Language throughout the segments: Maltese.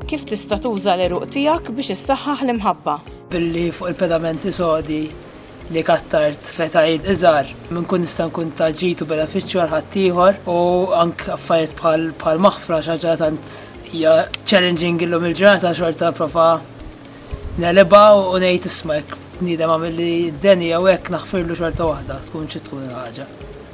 Kif tista' tuża l-għeruq tiegħek biex issaħħaħ l-imħabba? Billi fuq il-pedamenti sodi li kattart f'etajiet iżgħar minn kun nista' nkun ta' ġid u benefiċċju għal ħaddieħor u anke affarijiet bħal bħal maħfra xi ħaġa tant hija challenging illum il-ġurnata xorta nipprova negħlibha u ngħid isma' jekk bniedem għamilli d-deni jew hekk naħfirlu xorta waħda tkun xi tkun il-ħaġa.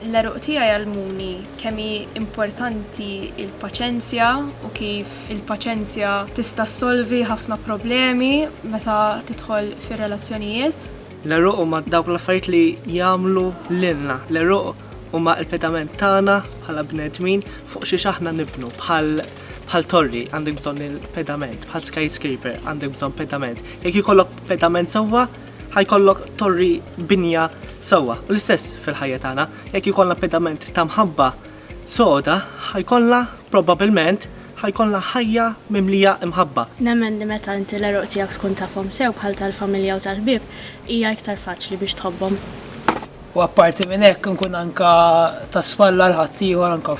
L-għeruq tiegħi għallmuni kemm hi importanti l-paċenzja u kif il-paċenzja tista' ssolvi ħafna problemi meta tidħol fir-relazzjonijiet. L-għeruq huma dawk l-affarijiet li jagħmlu lilna. L-għeruq huma l-pedament tagħna bħala bnedmin fuq xiex aħna nibnu. Bħal bħal torri għandek bżonn il-pedament, bħal skyscraper għandek bżonn pedament. Jekk ikollok pedament sewwa, ħajkollok torri binja sewwa. U l-istess fil-ħajja tagħna, jekk ikollna pedament ta' mħabba soda, ħajkollna probabbilment ħajkollna ħajja mimlija imħabba. Nemmen li meta inti l-għeruq tiegħek tkun tafhom sew bħal tal-familja u tal-ħbieb, hija iktar faċli biex tħobbhom. U apparti minn hekk inkun anke ta' spalla għal ħaddieħor anke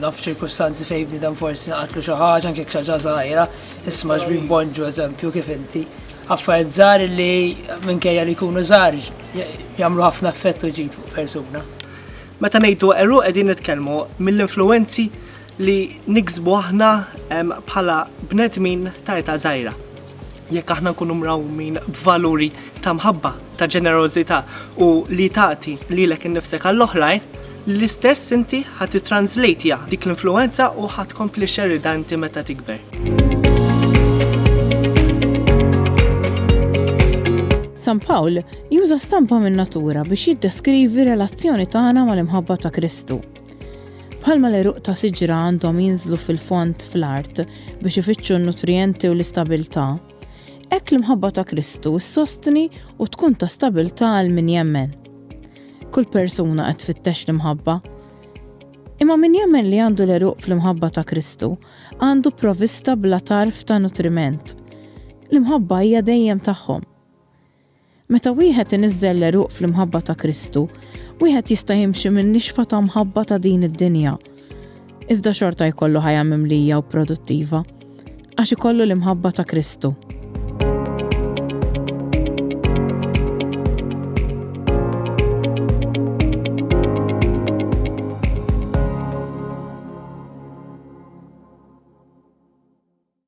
Naf ċirkustanzi fejn bniedem forsi naqatlu xi ħaġa anke xi ħaġa żgħira, isma' xbin Bonġu eżempju kif inti. Affarijiet żgħar li minkejja li jkunu żgħar jagħmlu ħafna effett u ġid fuq persuna. Meta ngħidu għeruq qegħdin nitkellmu mill-influwenzi li niksbu aħna bħala bnedmin ta' età żgħira. jekk aħna nkunu mrawmin b'valuri ta' mħabba, ta' ġenerożità u li tagħti lilek innifsek għall-oħrajn, l-istess inti ħa tittranżlejtja dik l-influwenza u ħa tkompli xxerridha inti meta tikber. San Pawl juża stampa min-natura biex jiddeskrivi relazzjoni tagħna mal-imħabba ta' Kristu. Bħalma l-għeruq ta' siġra għandhom jinżlu fil-fond fl-art biex ifittxu n-nutrijenti u l-istabbiltà, hekk l-imħabba ta' Kristu ssostni u tkun ta' stabbiltà għal min jemmen. Kull persuna qed tfittex l-imħabba. Imma min jemmen li għandu l-għeruq fl-imħabba ta' Kristu għandu provista bla tarf ta' nutriment. L-imħabba hija dejjem tagħhom. Meta wieħed iniżżel l-għeruq fl-imħabba ta' Kristu, wieħed jista' jimxi min-nixfa ta' mħabba ta' din id-dinja, iżda xorta jkollu ħajja mimlija u produttiva, għax ikollu l-imħabba ta' Kristu.